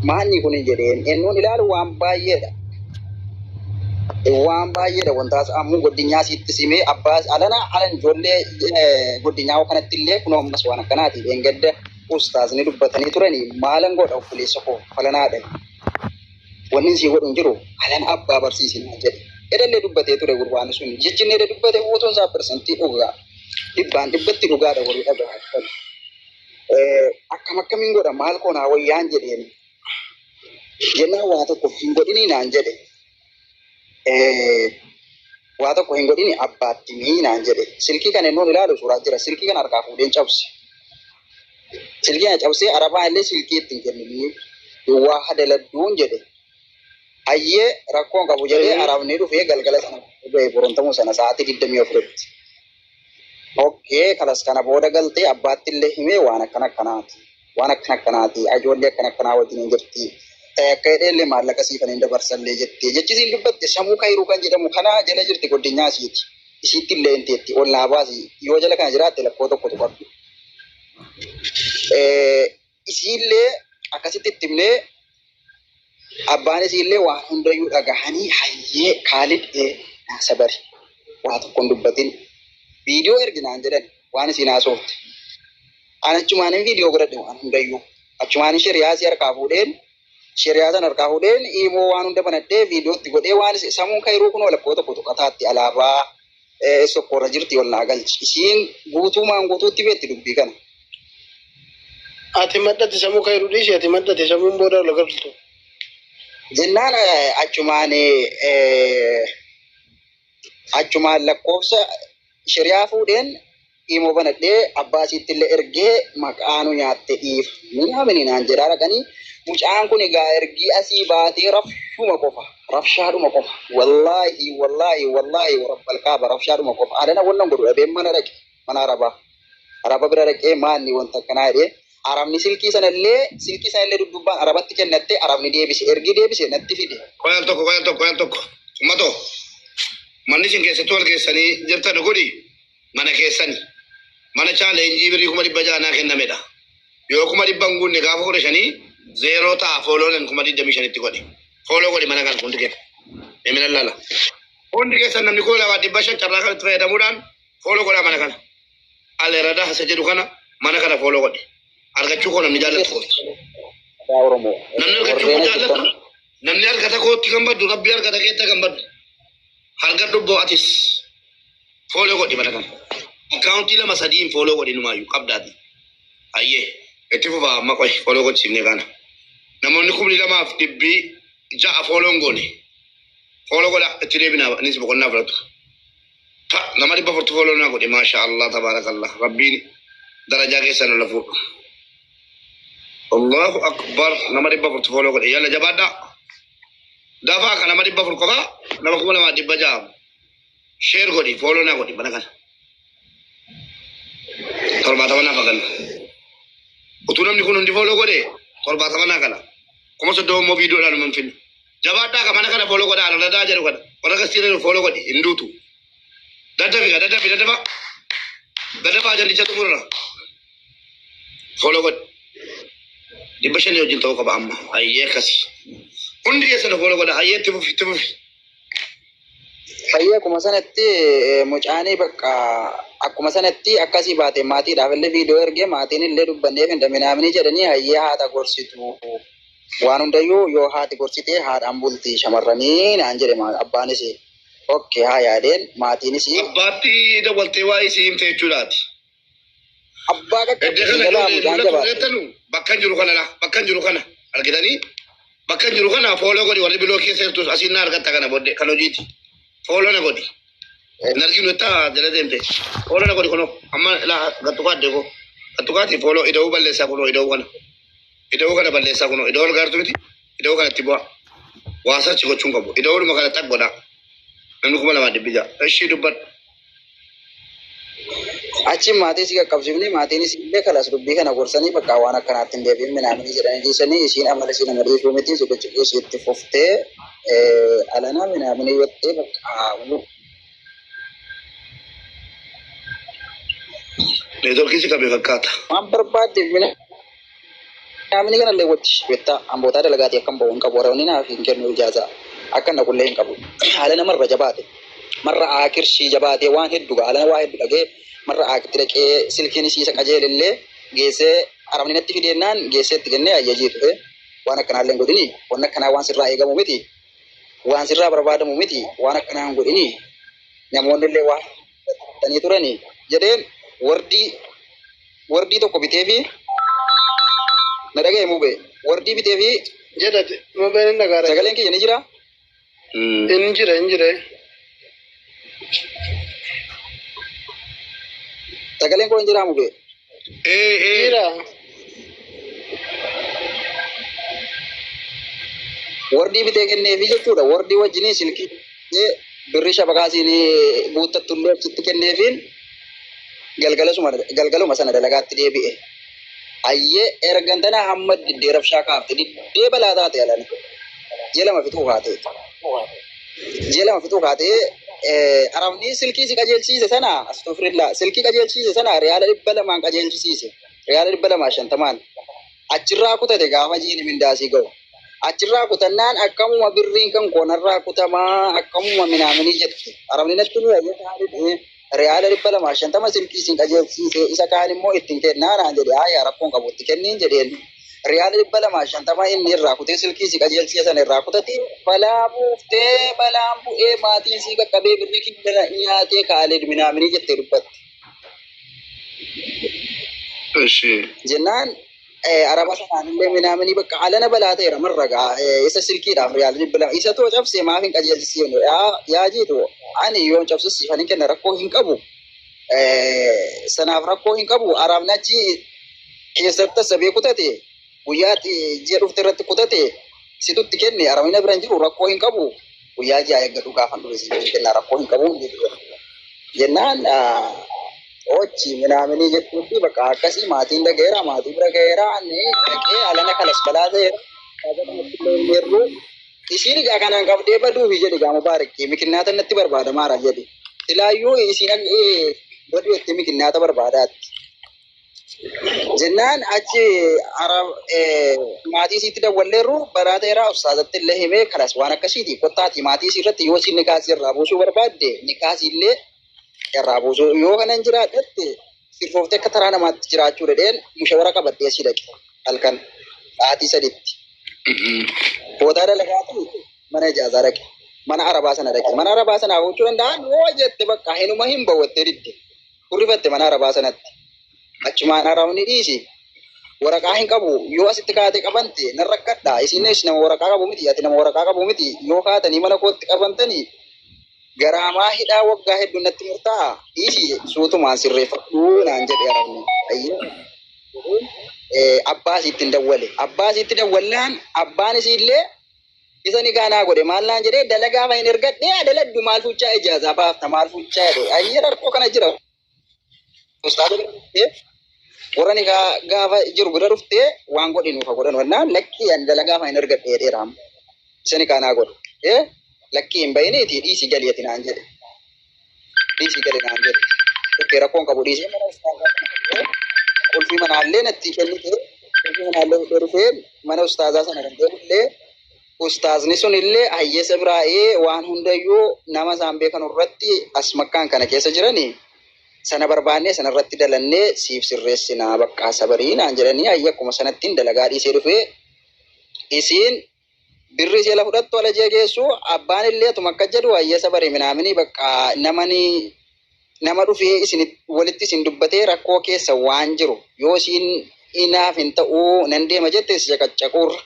Maanni kun jedheen ennuun ilaalu waan baay'eedha. Waan baay'eedha wantaas ammoo godinyaa sitti simee abbaas alana alan ijoollee godinyaa kanatti illee kun ammas waan akkanaati dheengadda ustaazni dubbatanii turanii maalan godha obboleessa koo falanaadha. Wanni sii godhu hin jiru alan abbaa barsiisin jedhe. Edallee dubbatee ture gurbaan sun jijjinnee dubbate uutuun isaa parsantii dhugaa dhibbaan dhibbatti dhugaadha warri dhagaa. Akkam akkamiin godha maal koo naa wayyaan jedheen jennaan waa tokko hin godhinii naan jedhe. Waa tokko hin godhini abbaatti mii naan jedhe. Silkii kana inni ilaalu suuraa jira. Silkii kana harkaa fuudheen cabse. Silkii kana cabsee arabaa illee silkii ittiin kenninii duwwaa hadaladduun jedhe. Hayyee rakkoon qabu jedhee arabni dhufee galgala sana ga'e borontamuu sana sa'aatii digdamii afuritti. Okkee kalas kana booda galtee abbaatti illee himee waan akkana akkanaati. Waan akkana akkanaati. Ajoollee akkana akkanaa wajjin hin jirti. Ta'e akka jedhee illee maallaqa siifan hin dabarsallee jettee. Jechi isiin dubbatte samuu kayruu kan jedhamu kana jala jirti godinyaa isiiti. Isiitti illee hin teetti. Ol naa baasi. Yoo jala kana jiraatte lakkoo tokkotu qabdu. Isiillee akkasitti itti himnee abbaan isiillee waan hundayyuu dhagahanii hayyee kaalid ee naasa bari waa tokko hin dubbatin viidiyoo ergi naan jedhan waan isiin haasofte. An achumaanin viidiyoo godhadhe waan hundayyuu. Achumaanin shiriyaa isii harkaa fuudheen Sheriyaa san harkaa fudheen iimoo waan hunda banadhee viidiyoo itti godhee waan isa samuun kayruu kunoo lakkoo tokko tuqataatti alaabaa eh, sokkoo irra jirti ol naa galchi. Isiin guutuumaan guutuutti beetti dubbii kana. Ati maddati samuu kayruu dhiisi ati maddati samuun booda ol galtu. Jennaan eh, achumaan eh, achumaan lakkoofsa sheriyaa fuudheen Imo banadhe abbaa isiittille ergee maqaa nu nyaatte dhiif minaamini naan jedhaa dhaqanii mucaan kun egaa ergii asii baatee rafshuma qofa rafshaadhuma qofa wallaahi wallaahi wallaahi warabbal kaaba rafshaadhuma qofa adana wannan godhu dhabee mana dhaqe mana arabaa araba bira dhaqee maanni wanta akkanaa jedhee arabni silkii sanallee silkii sanallee duddubbaan arabatti kennattee arabni deebise ergii deebise natti fide Qoyal tokko qoyal tokko qoyal tokko ummatoo manni isin keessatti wal geessanii jirtan godhi. mana keessani mana chaa leenjii birrii kuma dhibba ja'a naa kennamedha yoo kuma dhibba hin guunne gaafa kudha shanii zeeroo ta'a fooloonan kuma digdamii shanitti godhe fooloo godhe mana kan hundi keessa emina lala hundi keessa namni koo lama dhibba shan carraa kanatti fayyadamuudhaan fooloo godhaa mana kana aleerada hasa jedhu kana mana kana fooloo godhe argachuu koo namni jaallatu koo Aadaa Oromoo. namni argachuu koo jaallatu namni argata kootti kan baddu rabbi argata keetta kan baddu harga dubboo atis Follow godhi mana kana. Account lama sadii hin follow godhi numaayyuu qabdaati. Hayyee. Itti fufaa amma qoy follow gochifne kana. Namoonni kumni lamaaf dhibbi ja'a follow hin goone. Follow godha itti deebina anis boqonnaa fudhatu. Ta nama dhibba furtu follow naa godhi maasha Allah tabaarakallah rabbiin darajaa keessan ol fuudhu. Allahu akbar nama dhibba furtu follow godhi yalla jabaadhaa. Dafaa kana nama dhibba fur qofaa nama kuma lamaa dhibba ja'a. Share godhi, follow na godhi mana kana. Torbaatama naaf haganna. Utuu namni kun hundi follow godhe torbaatama naa gala. Kuma soddoma immoo viidiyoodhaan hin finna. Jabaadhaa ka mana kana follow godha alaladaa jedhu kana. Warra kastii jedhu follow godhi hin duutu. Daddafi gaa daddafi daddafa. Daddafa ajandicha xumurra. Follow godhi. Dhibba shanii wajjin ta'uu qaba amma. Hayyee akkasi. Hundi keessan follow godha. Hayyee itti fufi itti fufi. Fayyee akkuma sanatti eh, mucaanii bakka akkuma sanatti akkasii baate maatiidhaaf illee viidiyoo ergee maatiin illee dubbanneef hin daminaamini jedhanii hayyee haadha gorsitu waan hundayyuu yoo haati gorsite haadhaan bulti shamarranii naan jedhe maa- abbaanis okke haa yaadeen maatiinis Abbaatti dawwaltee waa isii himte jechuudhaati. Abbaa Gadda Gadda kana yoo Galaamu deemnu Daanjabaa. tureettanu bakka hin jiru kana laa bakka hin jiru kana argitanii bakka hin jiru kana fooloo godhi warri biloo keessa jirtus asiin na argatta kana booddee kan hojiiti fooloo na godhi hin arginu itti jala deemte fooloo na godhi kunoo amma laa gattukaa addee koo gattukaati fooloo ida'uu balleessaa kunoo ida'uu kana ida'uu kana balleessaa kunoo ida'uu argaartu miti ida'uu kana itti bu'aa waasachi gochuun qabu ida'uudhuma kana xaq godhaa namni kuma lamaa dhibbi ja'a ishii dubbadhu Achiin maatii isii qaqqabsiifnee maatiin isiillee kalas dubbii kana gorsanii bakka waan akkanaatti hin deebi'in minaaminii jedhanii dhiisanii isiin amala isii nama dhiisuu miti ciqiciqii isii itti fuftee alanaa minaaminii jettee bakka haawuu. Neetworkiin si qabe fakkaata. Waan barbaaddeef mina Namni kanallee wajji wetta ambootaa dalagaatii akkan bahu hin qabu warabni naaf hin kennu ijaazaa akkan dhaqullee hin qabu haala nama irra jabaate marra aakir shii jabaatee waan heddu ga alana waa heddu dhagee marra aakti dhaqee silkiin isii isa qajeelillee geessee arabni natti fideennaan geessee itti kennee ayyajii dhufe waan akkanaallee hin godhini waan akkanaa waan sirraa eegamu miti waan sirraa barbaadamu miti waan akkanaa hin godhini namoonni illee waan Tanii turani jedheen wardii wardii tokko bitee fi na dhaga'e mube wardii bitee fi jedha mubeen hin dhagaara sagaleen kiyya ni jira hin jira hin jira sagaleen koo hin jira mube Ee ee. Jira. Wordii bitee kenneefi jechuudha. Wordii wajjinii silkii ee, birri shabakaa siin guuttattullee achitti kenneefiin galgalasuma galgaluma sana dalagaatti deebi'e. Ayyee ergan tana hamma diddee rabshaa kaafte diddee balaa taate alana. Jee lama fixuu kaatee. Ji'a lama fixuu kaatee arabni silkii si qajeelchiise sana astofirillaa silkii qajeelchiise sana riyaala dhibba lamaan qajeelchisiise riyaala dhibba lamaa shantamaan achirraa kutate gaafa jiini mindaasii ga'u achirraa kutannaan akkamuma birriin kan koonarraa kutamaa akkamuma minaaminii jetti arabni natti ni Riyaala dhibba lamaa shantama isin isin qajeelchiise isa kaan immoo ittiin kennaa naan jedhe haaya rakkoon qabu itti kenniin jedheen. Riyaala dhibba lamaa shantama inni irraa kutee silkii si qajeelchiise sana irraa kutati. Balaa buuftee balaan bu'ee maatiin sii qaqqabee birrii kibbana nyaatee kaalid minaaminii jettee dubbatte. Ishee. Jennaan araba sanaanillee minaamini bakka alana balaa ta'eera marra gaa isa silkiidhaaf riyaal bilbila isa too cabse maaf hin qajeelchisiin yaa jiitu ani yoon cabsus siifan hin kenna rakkoo hin qabu sanaaf rakkoo hin qabu arabni achi keessatti tasabee kutate guyyaatti ji'a dhufte irratti kutate situtti kenne arabina bira hin jiru rakkoo hin qabu guyyaa ja'a eeggadhu gaafan dhufe si jedhu kennaa rakkoo hin qabu jedhu jennaan ochi minaaminii jedhuu fi bakka akkasii maatiin dhaga'eera maatii bira ga'eera inni dhaqee alana kanas balaa ta'eera yeroo isiin egaa kanaan qabdee baduufi jedhe gaama baarikkee mikinnaata natti barbaadamaara jedhe silaayyuu isiin baduu itti mikinnaata barbaadaatti. Jennaan achi maatii isiitti dawwalleerru baraa ta'eeraa ustaazatti illee himee kanas waan akkasiiti kottaati maatii isii irratti yoo isiin nikaa isii irraa buusuu barbaadde nikaa isii illee irraa buusuu yoo kanan jiraadhatti sirfooftee akka taraa namaatti jiraachuu dhedheen mushawara qabadhee sii dhaqe halkan sa'aatii saditti. Boodaa dalagaatu mana ijaazaa dhaqe. Mana arabaa sana dhaqe. Mana arabaa sana hojjechuu danda'an yoo jette bakka hinuma hin bawwattee didde. Hurrifatte mana arabaa sanatti. Achumaan arabni dhiisi. Waraqaa hin qabu. Yoo asitti kaatee qabante nan rakkadha. Isinis nama waraqaa qabu miti. Ati nama waraqaa qabu miti. Yoo kaatanii mana kootti qabantanii garaamaa hidhaa waggaa hedduun natti murtaa'a. Dhiisi suutumaan sirreeffadhu naan jedhe arabni. Ayyee. Eh, Abbaa isiitti hin dawwale. Abbaa isiitti dawwallaan abbaan isiillee Isa nikaa naa godhe maal naan jedhee dalagaa fa hin ergadhee haa daladdu maal fuuchaa ijaazaa baafta maal fuuchaa jedhe ayyee rakkoo kana jira ustaaza bira dhuftee warra nikaa gaafa jiru bira dhuftee waan godhe nuuf haa godhan wannaan lakkii ani dalagaa fa hin ergadhe jedheera amma isa nikaa naa godhe ee lakkii hin bahiniiti dhiisi galii ati naan jedhe dhiisii gali naan jedhe. Dhukkee rakkoon qabu dhiisee mana ustaazaa kana dhaqee qulfii manaallee nattii kennite qulfii manaallee fudhee dhufee mana ustaazaa sana kan deemullee ustaazni sunillee hayyeessa biraa ee waan hundayyuu nama isaan beekan irratti as makkaan kana keessa jiranii sana barbaannee sana irratti dalannee siif sirreessinaa baqqaa sabarii naan jedhanii hayya akkuma sanattiin dalagaa dhiisee dhufee isiin Birri jala fudhattu alajia geessu abbaan illee atuma akka jedhu hayyasa bari minaamini bakka namani nama dhufee isin walitti isin dubbatee rakkoo keessa waan jiru yoo isiin inaaf hin ta'uu nan deema jette si caqaccaquurra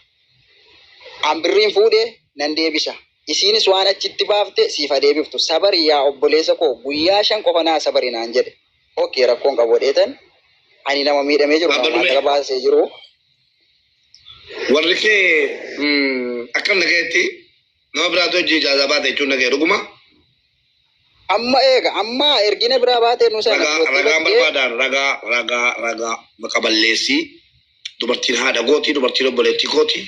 an birriin fuudhe nan deebisa isiinis waan achitti baafte siif adeebiftu sabari yaa obboleessa koo guyyaa shan qofa naa sabari naan jedhe ok rakkoon qabu dheetan ani nama miidhamee jiru nama maallaqa baasee jiru Warri kee akkam nagayetti nama biraatu hojii ijaazaa baate jechuun nagaya dhuguma. Amma eega amma ergina biraa baatee nu seena. Ragaa ragaan barbaadaan ragaa ragaa ragaa maqa balleessii dubartiin haadha gootii dubartiin obboleettii kooti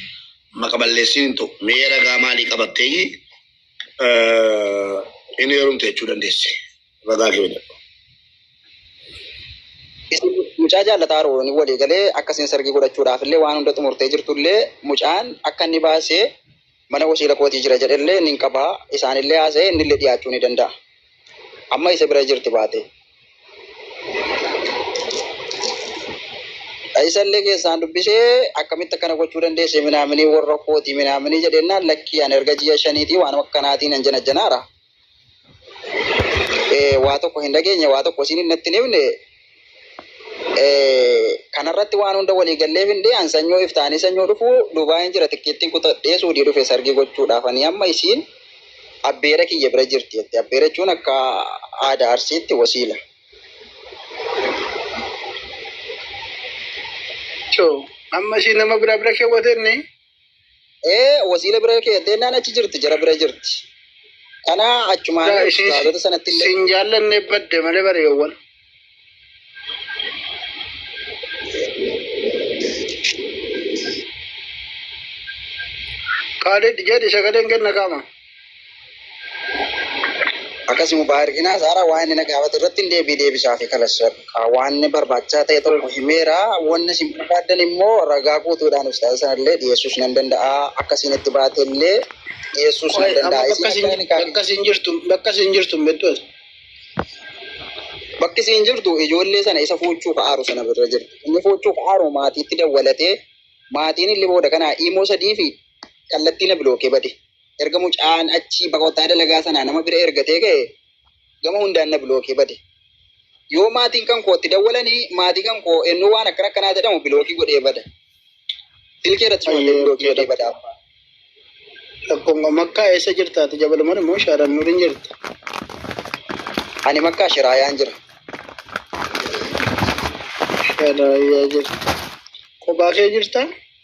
maqa balleessiin hin ta'u. Mee ragaa maalii qabattee inni heerumte jechuu dandeessi. Bagaa kee dha. Isin mucaa jaallataa Aroon walii galee akka isin sargii godhachuudhaaf illee waan hunda xumurtee jirtu illee mucaan akka inni baase mana wasiila kootii jira jedhe illee nin qaba isaan illee haasa'e inni illee dhiyaachuu ni danda'a. Amma isa bira jirti baate. Isa illee keessaan dubbisee akkamitti akkana gochuu dandeesse minaaminii warra kootii minaaminii jedhennaan lakkii ani erga ji'a shaniitii waan akkanaatiin nan janajjanaara. eh, waa tokko hin dhageenye waa tokko isiin hin natti hin himne eh, kanarratti waan hunda walii gallee hin dhiyan sanyoo iftaanii sanyoo dhufu dubaa'een jira tikkeettiin kutadhee suudii dhufe sargii gochuudhaaf ani amma isiin abbeera kiyya bira jirti jette abbeera jechuun akka aadaa arsiitti wasiila Choo, amma ishii nama biraa bira keewwatenne Ee wasiila bira kee deennaan achi jirti jara bira jirti. Kana achumaan Daa ishee hospitaalota sanatti illee sin jaallanne badde malee bareewwan. Kaalid jedhi sagaleen kenna qaama. Akkasuma baay'ina isaarraa waan inni na gaafate irratti hin deebii deebisaa fi kalasseera. Waan inni barbaachisaa ta'e tokko himeera. Wanni isin barbaaddan immoo ragaa guutuudhaan ustaaza sanallee dhiyeessuus nan danda'a. Akka isin itti baate illee dhiyeessuus nan danda'a. Bakka isin jirtu bakka isin jirtu beektu. Bakki isin jirtu ijoollee sana isa fuuchuu ka'aaru sana bira jirti. Inni fuuchuu ka'aaru maatiitti dawwalatee maatiin illee booda kanaa imoo sadii fi kallattii na bilookee bade. Erga mucaan achii bakottaa dalagaa sanaa nama bira ergatee ka'e gama hundaan na bilookee bade. Yoo maatiin kan kootti dawwalanii maatii kan koo ennuu waan akkana akkanaa jedhamu bilookii godhee bada. Silkii irratti shoottee Ayyee bilookii godhee bada. Tokko makkaa eessa jirta ati jabaluman immoo shaaran nurin jirta. Ani makkaa shiraayaan jira. Sharaayyaa jirta. Kophaa kee jirta.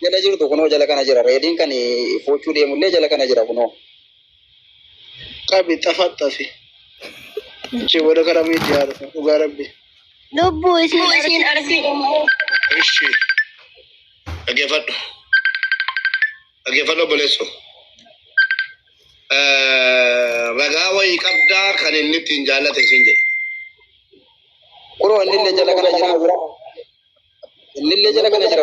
Jala jirtu kunoo jala kana jira. Reediin kan foochuu deemullee jala kana jira kunoo. Qabi xafaxafi. Ishee booda karaa miidiyaa haadha dhugaa rabbi. Lubbuu isiin arsii immoo. Ishi. Dhaggeeffadhu. Dhaggeeffadhu obboleessoo. Ragaa wayii qabdaa kan inni ittiin jaallate isin jedhe. Kunoo innillee jala kana jira. Innillee jala kana jira.